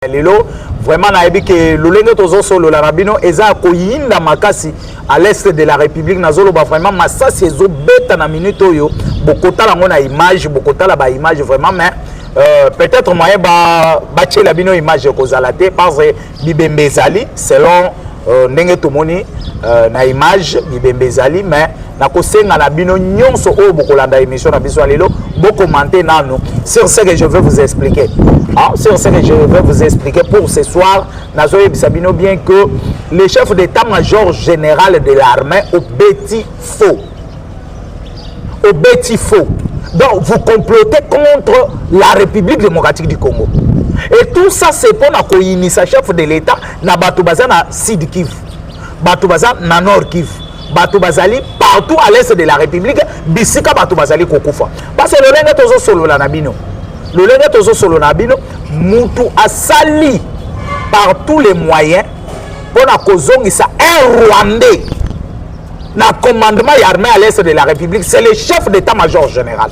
ya lelo vraiment nayebi ke lolenge tozosolola na bino eza ya koyinda makasi à l'est de la république nazoloba vraiment masasi ezobeta na minute oyo bokotala yango na image bokotala baimage vraiment mais Euh, peut-être moyen batyela ba bino image ekozala te parce bibembe ezali selon Euh, ndenge tomoni euh, na image bibembe ezali mais nakosenga na bino nyonso oyo bokolanda émission na biso ya lelo bokomante nanu sur ce que je veux vous expliquer ah, sur ce que je veux vous expliquer pour ce soir nazoyebisa bino bien que le chef d'état major général de l'armée obeti faux obeti faux donc vous complotez contre la république démocratique du congo et tout ça c'est mpo na koyinisa chef de l'état na bato baza na sud kivu bato baza na nord kivu bato bazali partout à l'est de la république bisika bato bazali kokufa parce que lolenge tozosolola na bino lolenge tozosolola na bino mutu asali par tous les moyens mpo na kozongisa un rwandais na commandement ya armée à l'est de la république c'est le chef d'état major général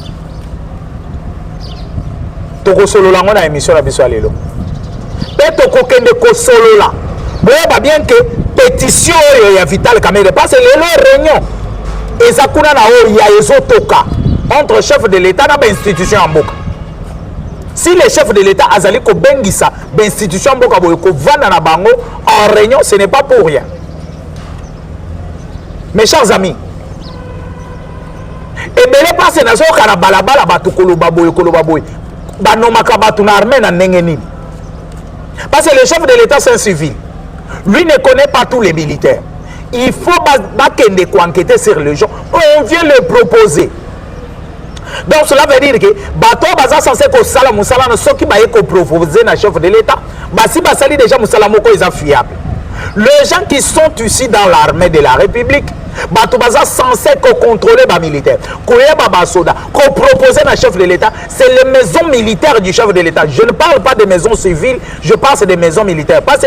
tokosolola yango na émission na biso ya lelo mpe tokokende kosolola boyeba bien ke pétition oyo ya vital kamere parce que lelo réunion eza kuna na oyo ya ezotoka entre chef de l'état na bainstitution ya mboka si le chef de l'état azali kobengisa bainstitution ya mboka boye kovanda na bango en réunion ce n'est pas pour rien mes chers amis ebele mpasi nazoyoka na balabala bato koloba boye koloba boye banomaka bato na armée na ndenge nini parce que le chef de l'état c'est un civil lui ne connaît pas tous les militaires il faut bakende koenquete sur les gens on vient le proposer donc cela veut dire que bato oyo baza sense kosala mosala na soki baye kopropose na chef de l'état basi basali déjà mosala moko eza fiable les gens qui sont ici dans l'armée de la république bato baza sense kocontrôle bamilitaire koyeba basoda kopropose na chef de l'état c'est les maisons militaires du chef de l'état je ne parle pas des maisons civiles je pense des maisons militaires parce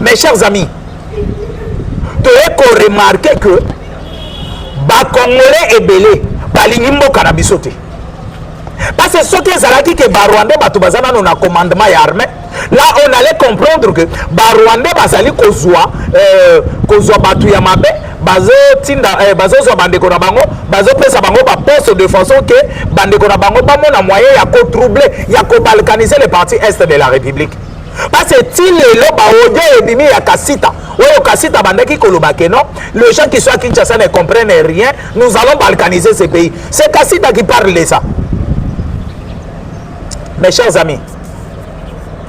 mes chers amis toye koremarke ke bacongolais ebele balingi mboka na biso te parce soki ezalaki ke barwandais bato baza nano na commandement ya armée là on allait comprendre que barwandais bazali kozwa euh, kozwa bato ya mabe bazotinda eh, bazozwa bandeko na bango bazopesa bango baposte de façon ke bandeko na bango bamona moyen ya kotrouble ya kobalkanise le parti est de la république parce ti lelo baodio ebimi ya kasita oyo kasita abandaki koloba ke non le gens qui soit kinshasa ne comprenne rien nous allons balkaniser ce pays c'est kasita qui parle de ça mes chers amis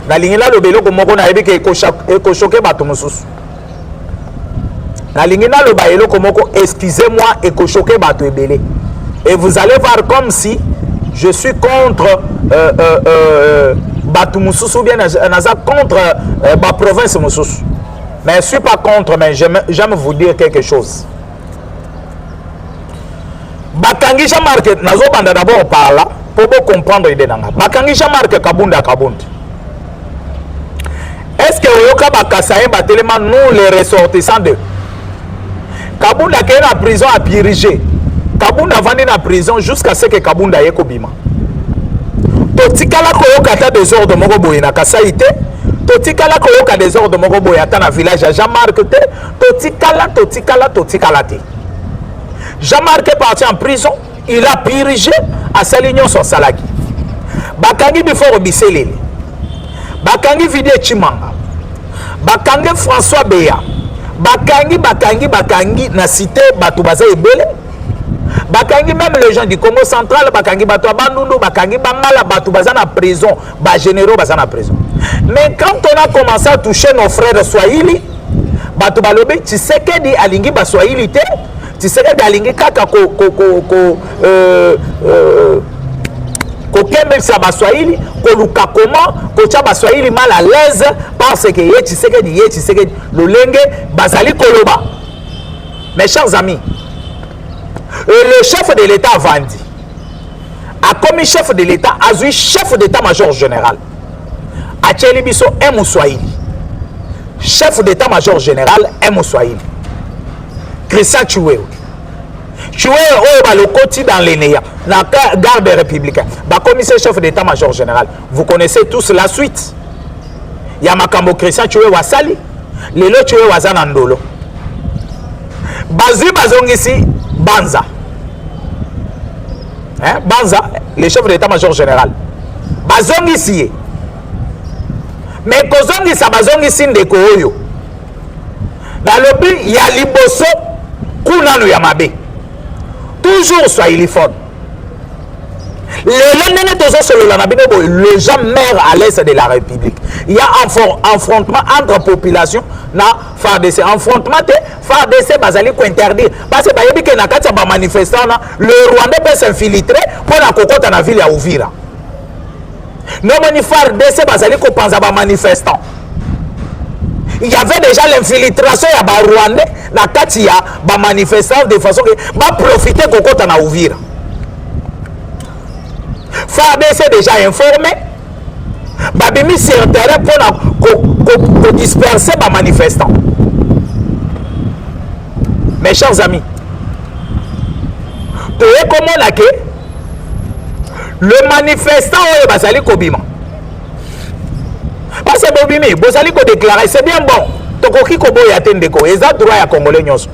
nalingi naloba eloko moko nayebi ke ekoshoke bato mosusu nalingi naloba eloko moko excusez moi ekoshoke bato ebele et vous allez voir comme si je suis contre euh, euh, euh, bato mosusu ou bien naza contre euh, baprovince mosusu mais je suis pas contre mais j'aime vous dire quelque chose bakangi jean marc nazobanda d'abord par là mpo bocomprendre ide na ngai bakangi jean marc kabund ya kabund est ce que oyoka bakasayen batelema nous les ressortissants de kabund akei na prison apirige kabund avandi na prison jusqu'à ce que kabund aye kobima totikala koyoka ata desordre moko boye na kasai te totikala koyoka desordre moko boye ata na village ya jean marc te totikala totikala totikala te jean marc est parti en prison il a purgé asali nyonso asalaki bakangi biforo biseleli bakangi vidie chimanga bakangi françois beya bakangi bakangi bakangi na site bato baza ebele bakangi meme les gens du congo central bakangi bato ya bandundu bakangi bangala bato baza na prison ba généraux baza na prison mais quand on a commencé à toucher nos frères swahili bato balobi tshisekedi alingi baswahili te tshisekedi alingi kaka ko, ko, ko, ko, euh, euh, kokembelisa baswahili koluka koma kotya baswahili mal à l'aise parce que ye tshisekedi ye tshisekedi lolenge bazali koloba mes chers amis euh, le chef de l'état avandi akomi chef de l'État azui chef d'état-major général atieli biso un muswahili chef d'état-major général un muswahili Christian Chiwewe Chiwewe oyo balokoti dans les néants na garde républicain bakomi se chef d'état-major général vous connaissez tous la suite ya makambo Christian Chiwewe asali lelo coyo aza na ndolo bazwi bazongisi banza hein? banza le chef de l'état major général bazongisi ye mais kozongisa bazongisi ndeko oyo nalobi ya liboso kunanu ya mabe toujours swahilifone lelo ndenge tozosolola na bino boye le gens maire à l'est de la république ya affrontement entre population na fardc affrontement te fardc bazali kointerdire parce bayebi ke na kati ya bamanifestant na le rwandais peut s'infiltre mpo na kokɔta na ville ya uvira nomoni fardc bazali kopanza bamanifestant il y avait déjà l'infiltration ya barwandais na kati ya bamanifestant de façon ke baprofite kokɔta na uvira fardc déjà informé babimi sur terrain mpo na kodisperse bamanifestant mes chers amis toye komona ke le manifestant oyo bazali kobima parce que bobimi bozali kodeklare c'est bien bon tokoki koboya te ndeko eza droit ya congolais nyonso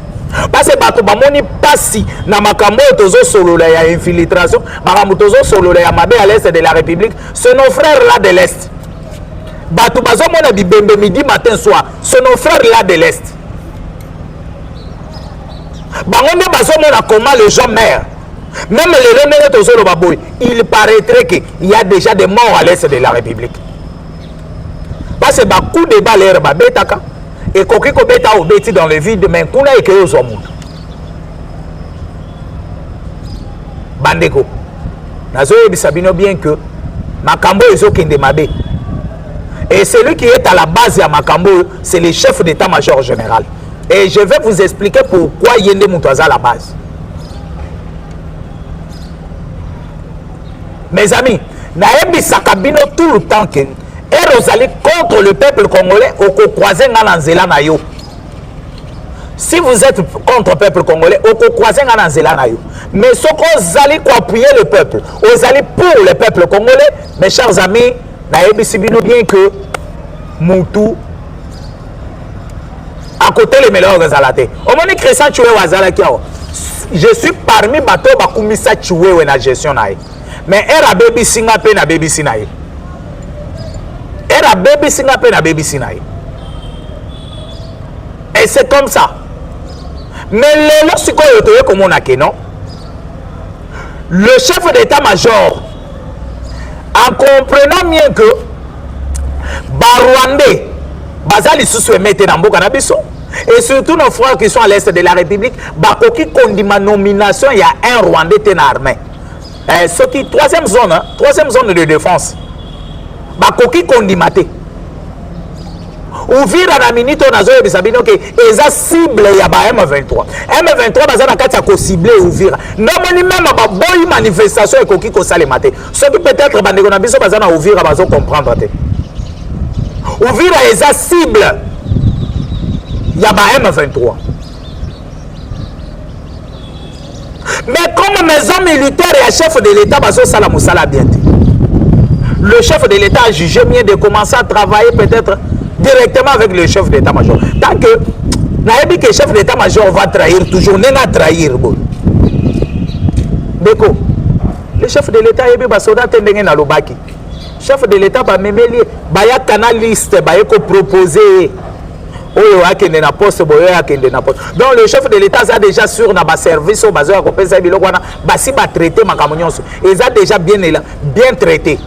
parce que bato bamoni mpasi na makambo oyo tozosolola ya infiltration makambo tozosolola ya mabe à l'est de la république ce nos frères là de l'est bato bazomona bibembe midi matin soir ce nos frères là de l'est bango nde bazomona comment les gens maire Même les Londres Tozolo Baboy, il paraîtrait qu'il y a déjà des morts à l'est de la République. Parce que beaucoup de balles air babetaka et kokiko beta au beti dans le vide mais kuna et que yo zwa mutu. Bandeko. Nazo yebisa bino bien que makambo ezokende mabe. Et celui qui est à la base ya makambo c'est le chef d'état-major général. Et je vais vous expliquer pourquoi yende mutu aza la base. mes amis nayebisaka bino tout le temps ke ere ozali contre le peuple congolais okokroise ngai na nzela na yo si vous êtes contre peuple congolais okokroise ngai na nzela na yo mais soki ozali koappuye le peuple ozali pour le peuple congolais mes chers amis nayebisi bino bien que mutu akotelemela oyo ezala te omoni christian chiwewe azalaki awa je suis parmi bato oyo bakumisa chiwewe na gestion na ye mais ere abebisi nga mpe nabebisi na ye ere abebisi nga mpe nabebisi na ye et c'est comme ça mais lelo sikoyo toye komona ke non le chef d'état major en comprenant mieux que barwandais baza lisusu emete na mboka na biso et surtout nos frères qui sont à l'est de la république bakoki kondima nomination ya un rwandais te na armée eh, soki troisième zone hein, troisième zone de défense bakoki kondima te uvira na minute oyo nazoyebisa bino ke eza cible ya ba m23 m23 baza na kati ya kocible uvira namoni meme baboyi manifestation ekoki kosalema te soki peut-être bandeko na biso baza na uvira bazo comprendre te uvira eza cible ya ba m23 mais comme maison militaire ya chef de l'état bazosala mosala bien te le chef de l'état a jugé mieux de commencer à travailler peut-être directement avec le chef d'état major tant que nayebi que chef d'état major va trahir toujours ndenge atrahir boye ndeko le chef de l'état ayebi basoda te ndenge nalobaki chef de l'état bamemeli ye baya canaliste baye kopropose ye oyo akende na poste boye akende na poste donc le chef de l'état aza déjà sur na baservice oyo bazoya kopesa ye biloko wana basi batraite makambo nyonso eza déjà bien, ela, bien traité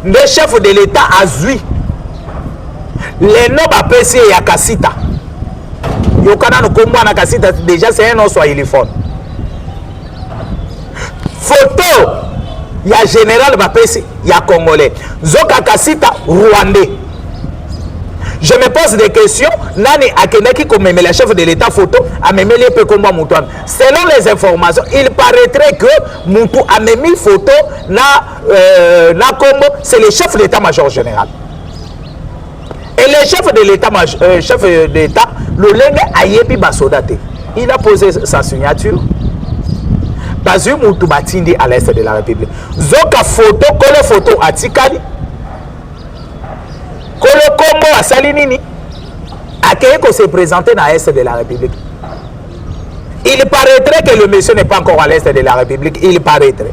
nde chef de l'état azwi leno bapesi ye ya kasita yoka nano kombo wana kasita déjà c'est un oswahiliphone photo ya général bapesi ya congolais nzoka kasita rwandais je me pose des questions nani akendaki komemela chef de l'état photo amemeli ye mpe nkombo ya moto wana selon les informations il paraîtrait que motu amemi photo na, euh, na nkombo c'est le chef d'état major général et le chef de l'état euh, chef d'état lolenge ayebi basoda te il a posé sa signature bazwi mutu batindi à l'est de la république zoka foto kolo foto atikali kolo kombo asali nini akei ko se présenter na est de la république il paraîtrait que le monsieur n'est pas encore à l'est de la république il paraîtrait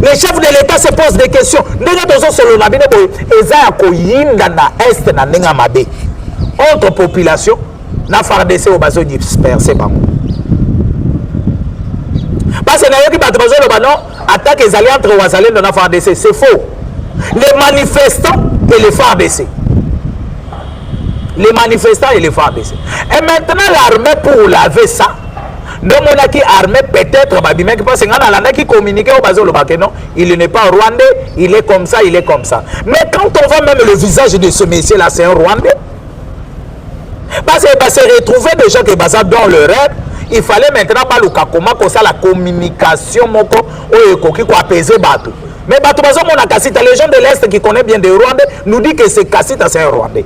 le chef de l'etat se pose des questions ndenge tozosolola bino boye eza ya koyinda na est na ndenge ya mabe entre population na fardc oyo bazodisperse bango parce que nayoki bato bazoloba non attaque ezali entre wazalendo na fardc c'est faux les manifestants et les fardc les manifestants et les fardc et maintenant l'armée pour laver ça nde omonaki armée peut-être babimaki parce ngai nalandaki communiqué oyo bazoloba ke non il n'est pas rwandais il est comme ça il est comme ça mais quand on voit même le visage de ce monsieur là c'est un rwandais parce que base retrouver des gens que baza dans le rêve il fallait maintenant baluka koma kosala communication moko oyo ekoki koapese bato mais bato bazomonaka sita les gens de l'est qui connaît bien de rwandais nous dit que c'est kasita c'est un rwandais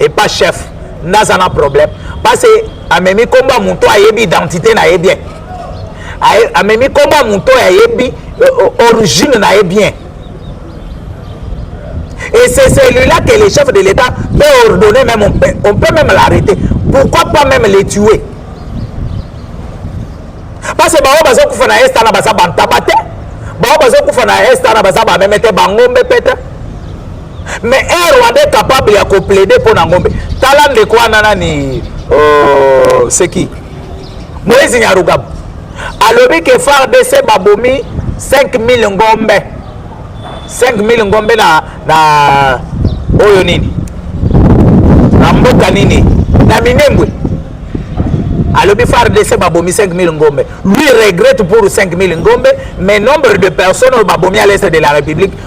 et pas chef naza na problème parce que amemi nkombo ya moto ayebi identité na ye bien amemi nkombo ya moto oyo ayebi euh, euh, origine na ye bien et c'est celui-là que le chef de l'état peut ordonner même on peut, on peut même l'arrêter pourquoi pas même les tuer parce que bango bazokufa na est wana baza bantaba te bango bazokufa na est wana baza bameme te bangombe mpe te mais un rwandais capable ya koplaide mpo na ngombe tala ndeko wana nani oh, seki moise nyarugabu alobi ke fardc babomi 5000 ngombe 5000 ngombe na, na oyo nini na mboka nini na minembwe alobi fardc babomi 5000 ngombe lui regrette pour 5000 ngombe mais nombre de personnes oyo babomi à l'est de la république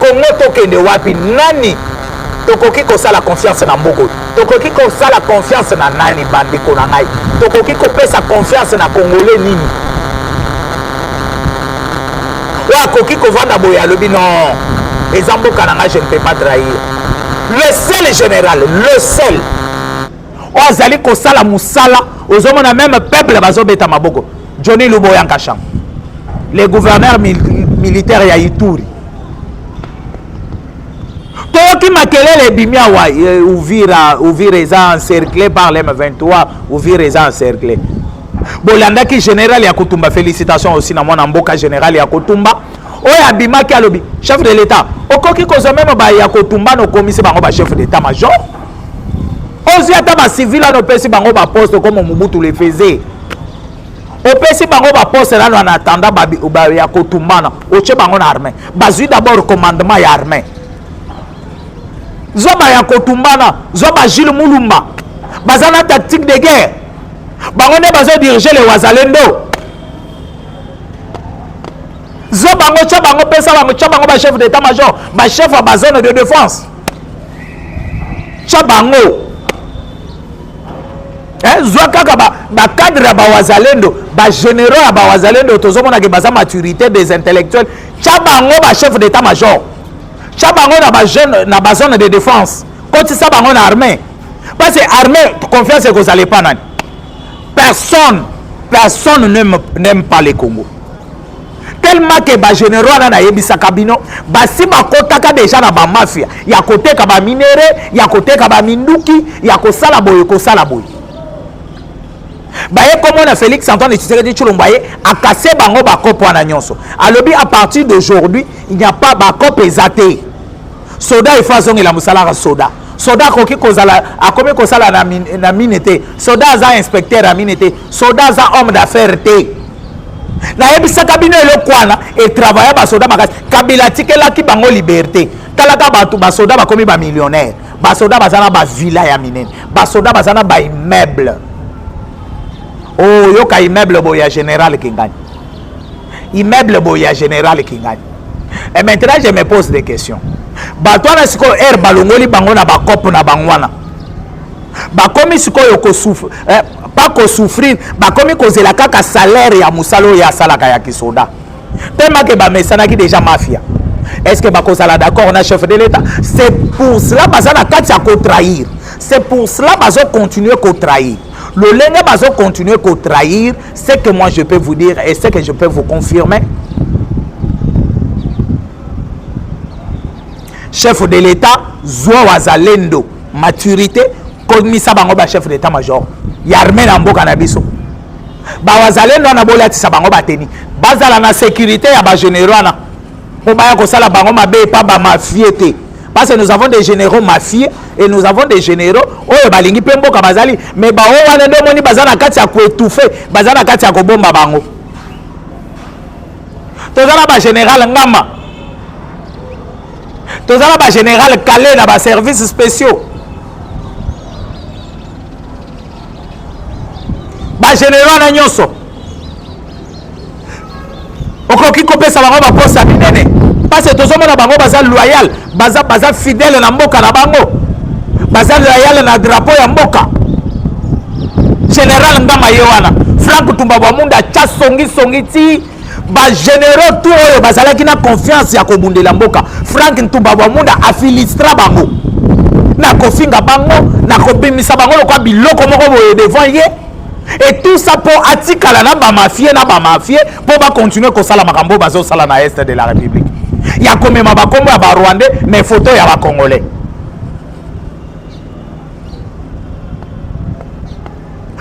congo tokende wapi nani tokoki kosala confiance na mboko tokoki kosala confiance na nani bandeko na ngai tokoki kopesa confiance na congolais nini oyo akoki kovanda boye alobi non eza mboka na ngai je ne peux pas trahir le seul général le seul oyo azali kosala mosala ozomona meme peuple bazobeta maboko johnny luboya nkasham le gouverneur mil militaire ya ituri toyoki makelele ebimi awa eh, uvira uvira eza encercle par lm 23 uvira eza encercle bolandaki général ya kotumba félicitation aussi na mwana mboka général ya kotumba oyo abimaki alobi chef de l'état okoki kozwa meme baya kotumba nokomisi bango ba chef d'état major ozwi ata bacivil wana opesi bango baposte comme mobutu le faisait opesi bango baposte nano en attendant ya kotumbana otye bango na armée bazwi d'abord commandement ya armée zwa baya kotumbana zwa bajile mulumba baza na tactique de guerre bango nde bazodirige le wazalendo zwa bango tya bango pesa bango tya bango bachef d'état major bachef ya bazone de défense tya bango eh, zwa kaka bacadre ya bawazalendo bagénéraux ya bawazalendo tozomonake baza maturité des intellectuels tya bango bachef d'état major tya bango na bazone de défense kotisa bango na armée parce que armée confiance ekozala epa nani personne personne n'aime pas le congo tellement que ba généraux wana nayebisaka bino basi bakotaka deja na bamafia ya koteka baminere ya koteka baminduki ya kosala boye kosala boye baye komona félix antoine tshisekedi tshilombo aye akase bango bakope wana nyonso alobi à partir d'aujourd'hui il n'y a pas bakope eza te soda il faut azongela mosalaka soda soda akoki kozala akomi kosala na, min, na mine te soda aza inspecteur ya mine te soda aza homme d'affaire te nayebisaka bino eloko wana etravaille basoda makasi kabila atikelaki bango liberté talaka bato basoda bakomi bamillionnaire basoda baza na bavilla ya minene basoda baza na baimmeuble oyoka oh, immeuble boye ya général kengani immeuble boye ya général kingani et maintenant je me pose des questions bato wana sikoyo aire balongoli bango na bakope na bango wana bakomi sikoyo kosufre eh, pas kosouffrir bakomi kozela kaka salaire ya mosala oyo asalaka ya kisoda tellement ke bamesanaki déjà mafia est ce que bakozala d'accord na chef de l'état c'est pour cela baza na kati ya kotrahir c'est pour cela bazocontinue kotrahir lolenge bazocontinue kotrahir Ce que moi je peux vous dire et ce que je peux vous confirmer, chef de l'État, Zouan Wazalendo, maturité, komisa bango ba chef d'état major ya armée na mboka na biso bawazalendo wana bolatisa bango bateni bazala na sécurité ya bagénéraux wana mpo baya kosala bango mabe epa bamafie te parce que nous avons des généraux mafieux et nous avons des généraux oyo balingi mpe mboka bazali mais baoyo wana nde omoni baza na kati ya koetouffe baza na kati ya kobomba bango toza na bagénéral ngama toza na bagénéral kale na baservice spéciaux bagénéraux wana nyonso okoki kopesa bango baposa minene mpasi tozomona bango baza loyal baza, baza fidele na mboka na bango baza loyal na drapo ya mboka general ngama ye wana frank tumba bwamunda atya songisongi ti bagénéraux tout oyo bazalaki na confiance ya kobundela mboka frank ntumba bwamunda afilistra bango na kofinga bango na kobimisa bango lokola biloko moko boye devant ye et tout ça mpo atikala na bamafie na bamafie mpo bakontinue kosala makambo oyo bazosala na est de la république ya komema bakombo ya barwandais mais foto ya bacongolais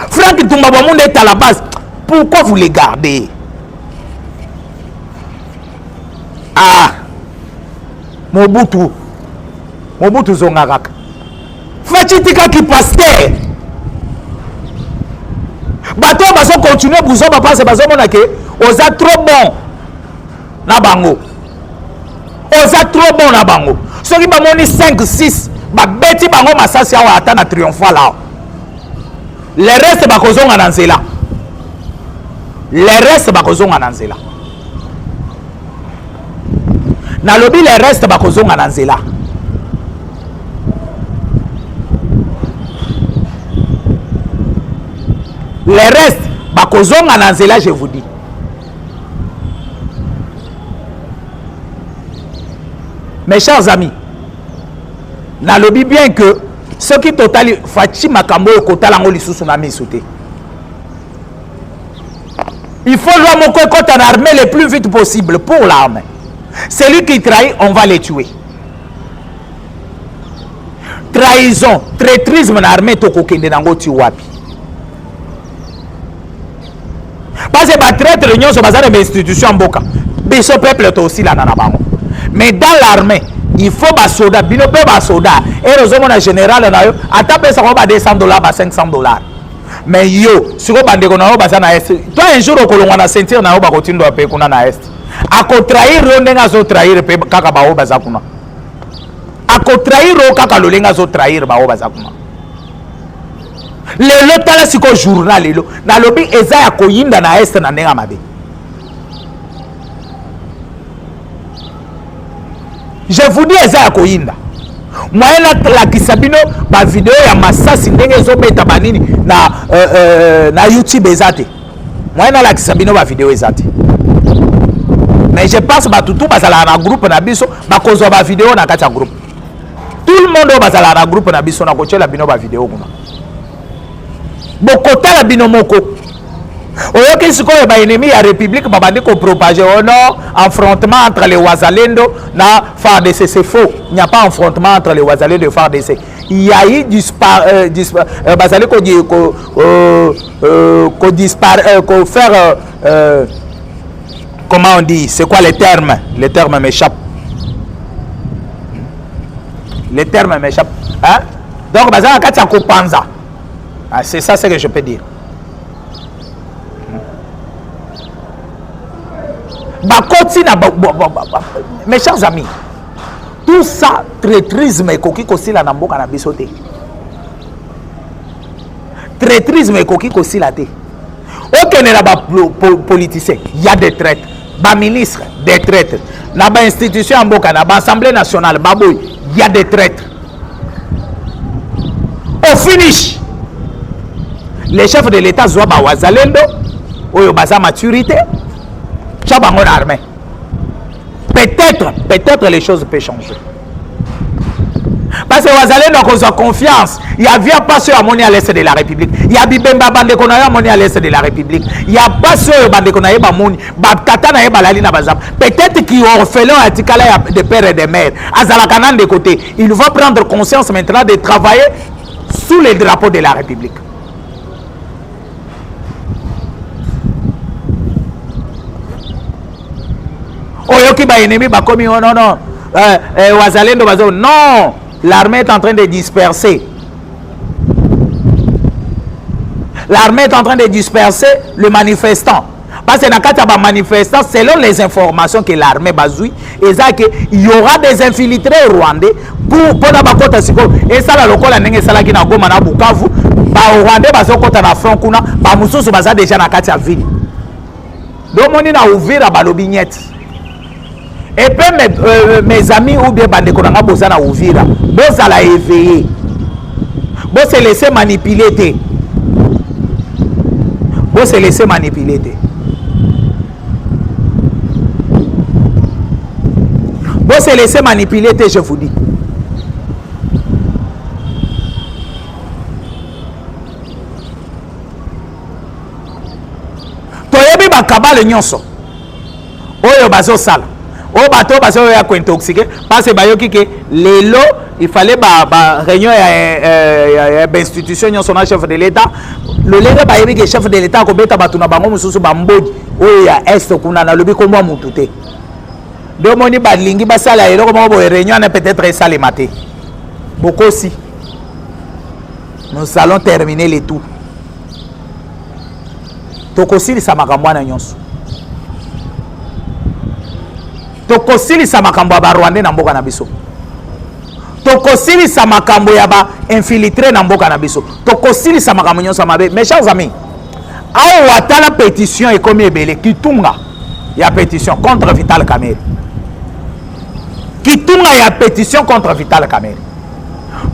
frank tumba bamunda est à la base pourquoi vous les gardez ah mobutu mobutu zonga kaka Fatshi tika ki pasteur bato oyo bazo continue buzo bapanse bazomona ke oza trop bon na bango oza trop bon na bango soki bamoni 5 6 babeti bango masasi awa ata na triomphal awa le reste bakozonga na nzela le reste bakozonga na nzela nalobi le reste bakozonga na nzela le reste bakozonga na nzela je vous dis mes chers amis nalobi bien que soki totali faci makambo oyo kotala yango lisusu na miso te Il faut loi moko ekota na armée le plus vite possible pour l'armée. Celui qui trahit, on va le tuer. Trahison, traitrisme na armée tokokende nango ti wapi? Parce que ba traître nyonso baza na institution mboka. Biso peuple to aussi lana na bango. Mais dans l'armée, il faut ba soda, bino pe ba soda. Et ozomona général na yo, ata pesa ko ba 200 dollars, ba 500 dollars. mais yo sikoyo bandeko na yo baza na est to un jour okolongwa na ceinture na yo bakotindwa mpe kuna na est akotrahir yo ndenge azotrahir mpe kaka baoyo baza kuna akotrahir yo kaka lolenge azotrahir baoyo baza kuna lelo tala sikoyo journal lelo nalobi eza ya koyinda na est na ndenge ya mabe je vous dis eza ya koyinda moyen natalakisa bino bavideo ya masasi ndenge ezobeta banini na, euh, euh, na youtube eza te moyen nalakisa bino bavideo eza te mais je pense bato tu bazalaka na groupe na biso bakozwa bavideo na kati ya groupe tout le monde oyo bazalaka na groupe na biso nakotyela bino bavideo kuna bokotala bino moko oyoki sikoyo ba ennemis ya république babandi ko propager oh non affrontement entre les wazalendo na FARDC c'est faux il n'y a pas affrontement entre les wazalendo et FARDC il y a eu dispar euh, dispar euh, bazali ko ko euh, euh, ko dispar euh, ko faire euh, euh, comment on dit c'est quoi les termes les termes m'échappent les termes m'échappent hein donc bazala kati ya kopanza ah, c'est ça ce que je peux dire bakoti na mes chers amis tout ça traitrisme ekoki kosila na mboka na biso te traitrisme ekoki kosila te okende na bapoliticien ya de traite baministre de traite na bainstitution ya mboka na baassemblée nationale baboyi ya de traite au finish les chefs de l'état zwa bawazalendo oyo baza maturité tya bango na armée peut-être peut-être les choses peut changer parce que wazalendo akozwa confiance ya via mpasi oyo amoni à l'est de la république ya bibemba bandeko na yo amoni à l'est de la république ya mpasi oyo bandeko na ye bamoni batata na ye balali na bazamba peut-être ki orphelin oyo atikala ya de père et de mère azalaka na ndeko te il va prendre conscience maintenant de travailler sous le drapeau de la république oyoki baennemi bakomi o oh, non non euh, euh, wazalendo bazo non l'armée est en train de disperser l'armée est en train de disperser le manifestant Parce que na kati ya ba manifestants selon les informations que l'armée bazui eza que il y aura des infiltrés rwandais pour pona bakota sikoyo esala lokola ndenge esalaki na Goma na Bukavu ba rwandais bazokota na front kuna ba mususu baza deja na kati ya ville domoni na Uvira balobi nyeti et puis mes, euh, mes amis ou bien bandeko na nga boza na uvira bozala éveillé bose laisse manipuler te bose laisse manipuler te bose laisse manipuler te je vous dis toyebi bakabale nyonso oyo bazosala oyo bato oyo bazoyo ya kointoxike parce bayoki ke lelo ifale baréunion ya, eh, ya, ya bainstitution nyonso na chef de l'état lolenge bayebi ke chef de l'état akobeta bato na bango mosusu bambodi oyo ya est kuna nalobi kombo ya motu te nde omoni balingi basala eloko moko boye réunion wana peut-être esalema te bokosi nous allons terminer le tout tokosilisa makambo wana nyonso tokosilisa makambo ya barwandais na mboka na biso tokosilisa makambo ya bainfiltre na mboka na biso tokosilisa makambo nyonso ya mabe mes chers amis awa tala pétition ekomi ebele kitunga ya pétition contre vital kamere kitunga ya pétition contre vital kamere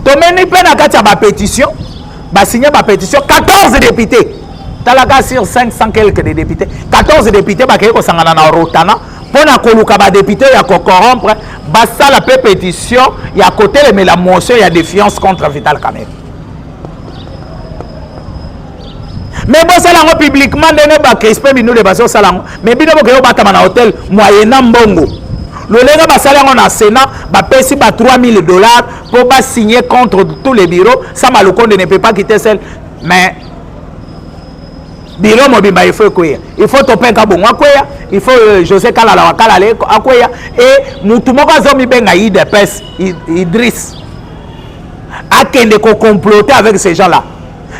tomeni mpe na kati ya bapétition ba signer ba petition 14 députés talaka sur 500 quelques de députés 14 députés bakei kosangana na rotana mpo na koluka badepute ya kocorrompre basala mpe pétition ya kotelemela motion ya défiance contre vital camere mais bosala yango publiquement ndenge bacrispe binule bazosala yango mais bino bokei kobatama na hotel moyena mbongo lolenge basali yango na sénat bapesi ba 3000 dollars Pour pas signer contre tous les bureaux, ça Malokonde ne peut pas quitter seul. Mais biro mobimba il faut ekweya il faut topin kabongo akweya il faut euh, josé kalala wa kalala akweya e mutu moko azomibenga idps idris akende kocomplote avec ces gens là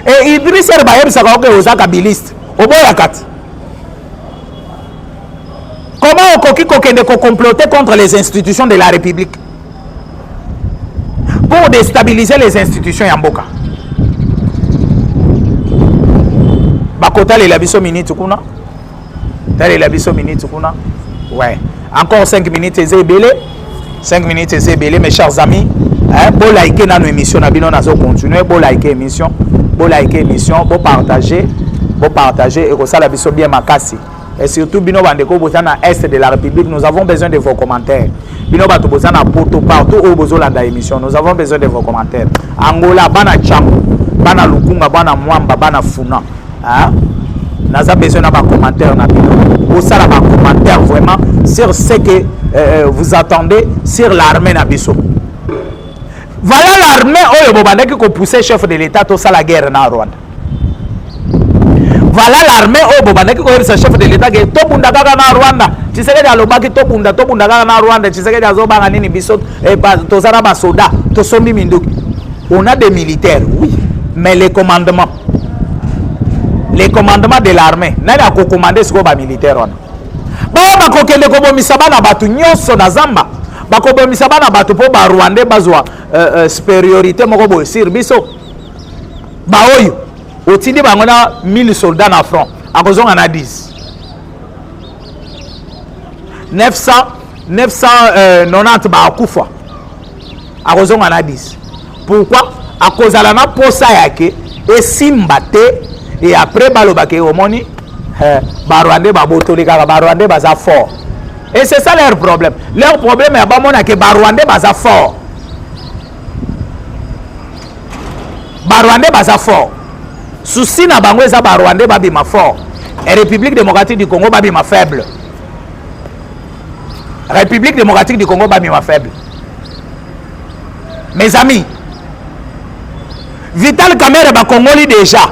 e idris ere bayebisaka oke oza kabiliste oboyaka ti comment okoki kokende kocomplote contre les institutions de la république pour destabiliser les institutions ya mboka bakotalela biso minute kuna talela biso minute kuna ouais encore 5 minutes eza ebele 5 minutes eza ebele mes chers amis eh, bolike nano émission na bino nazo continue bolike émission bolike émission bopartage bopartage ekosala biso bien makasi Et surtout bino bandeko boza na est de la république nous avons besoin de vos commentaires bino bato boza na poto partout oyo bozolanda émission nous avons besoin de vos commentaires angola bana changu bana lukunga bana mwamba bana funa hein? naza besoin na bacommentaire na bino bosala bacommentaire vraiment sur ce que euh, euh, vous attendez sur l'armée na biso voilà l'armée oyo bobandaki kopousse chef de l'état tosala guerre na rwanda Voilà l'armée oyo bobandaki koyebisa chef de l'etat ke tobunda kaka na Rwanda. Tshisekedi alobaki tobunda tobunda kaka na Rwanda. Tshisekedi azobanga nini biso eh, toza na basoda tosombi minduki. On a des militaires, oui, mais les commandements. Les commandements de l'armée. Nani akokomande sikoyo bamilitaire wana? Baoyo bakokende kobomisa bana bato nyonso na zamba bakobomisa bana bato mpo barwandais bazwa euh, euh, supériorité moko boye sur biso baoyo otindi bango na 1000 soldat na front akozonga na 10 900 990 euh, bakufa akozonga na 10 pourquoi akozala na posa yake esimba te e après balobaka e omoni eh, barwandais babotoli kaka barwandais baza fort et c'est ça leur problème leur problème ya bamona ke barwandais baza fort barwandais baza fort susi na bango eza barwandais babima fort e république démocratique du congo babima faible république démocratique du congo babima faible mes amis vital kamere bakongoli déjà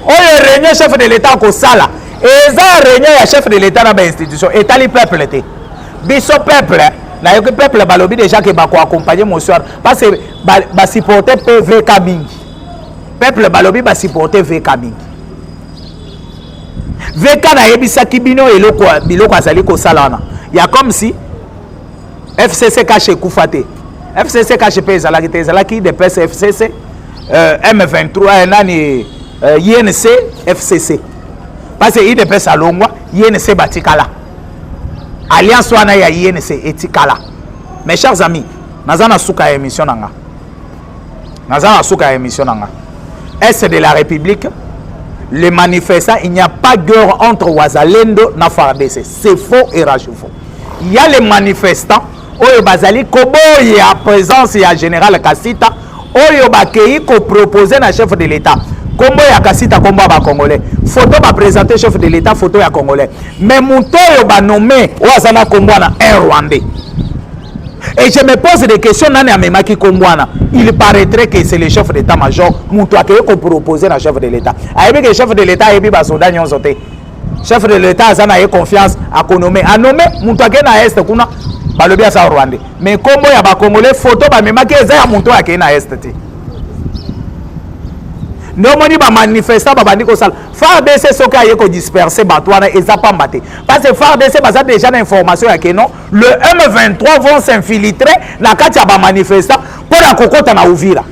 oyo réunion chef de l'état akosala eza réunion ya chef de l'état na bainstitution etali peuple te biso peuple nayoki peuple balobi déjà ke bako accompagne mosuar parce que basupporte ba mpe vk mingi peuple balobi basupporte vk mingi vk nayebisaki bino eloko biloko azali kosala wana ya comme si fcc kashe ekufa te fcc kashe mpe ezalaki te ezalaki dps fcc euh, m23 eh, nani euh, inc fcc parce que idps alongwa inc batikala alliance wana ya inc etikala mes chers amis naza na suka ya émission na nga naza na suka ya émission na nga est de la république le manifestant il n'y a pas guerre entre wazalendo na fardc c'est faux et rage faux il y a les manifestants oyo bazali koboya présence ya général kasita oyo bakeyi ko proposer na chef de l'etat kombo ya kasita kombo ya ba congolais photo ba presenter chef de l'etat photo ya congolais mais moto oyo ba nomme oyo aza na kombo wana un rwandais et je me pose des questions nani amemaki kombo wana il paraîtrait que c'est le chef d'état major moto akeyi ko proposer na chef de l'état ayebi que chef de l'état ayebi basoda nyonso te chef de l'etat aza na ye confiance akonome anome moto akei na este kuna balobi aza rwandais mais nkombo ya bacongolais foto bamemaki eza ya moto oyo akei na este te nde omoni bamanifestant babandi kosala fardc soki aye kodisperse bato wana eza pamba te parce que fardc baza déjà na information ya keno le m23 vont s'infiltre na kati ya bamanifestant mpo na kokɔta na uvira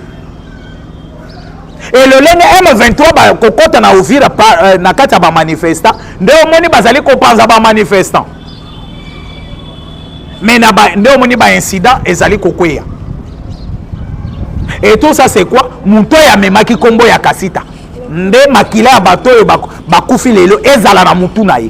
e lolenge M23 bakokota na Uvira euh, na kati ya bamanifestant nde omoni bazali kopanza bamanifestant mais na ba, nde omoni baincident ezali kokweya et tout ça c'est quoi moto oyo amemaki nkombo ya kasita nde makila ya bato oyo bakufi lelo ezala na motu na ye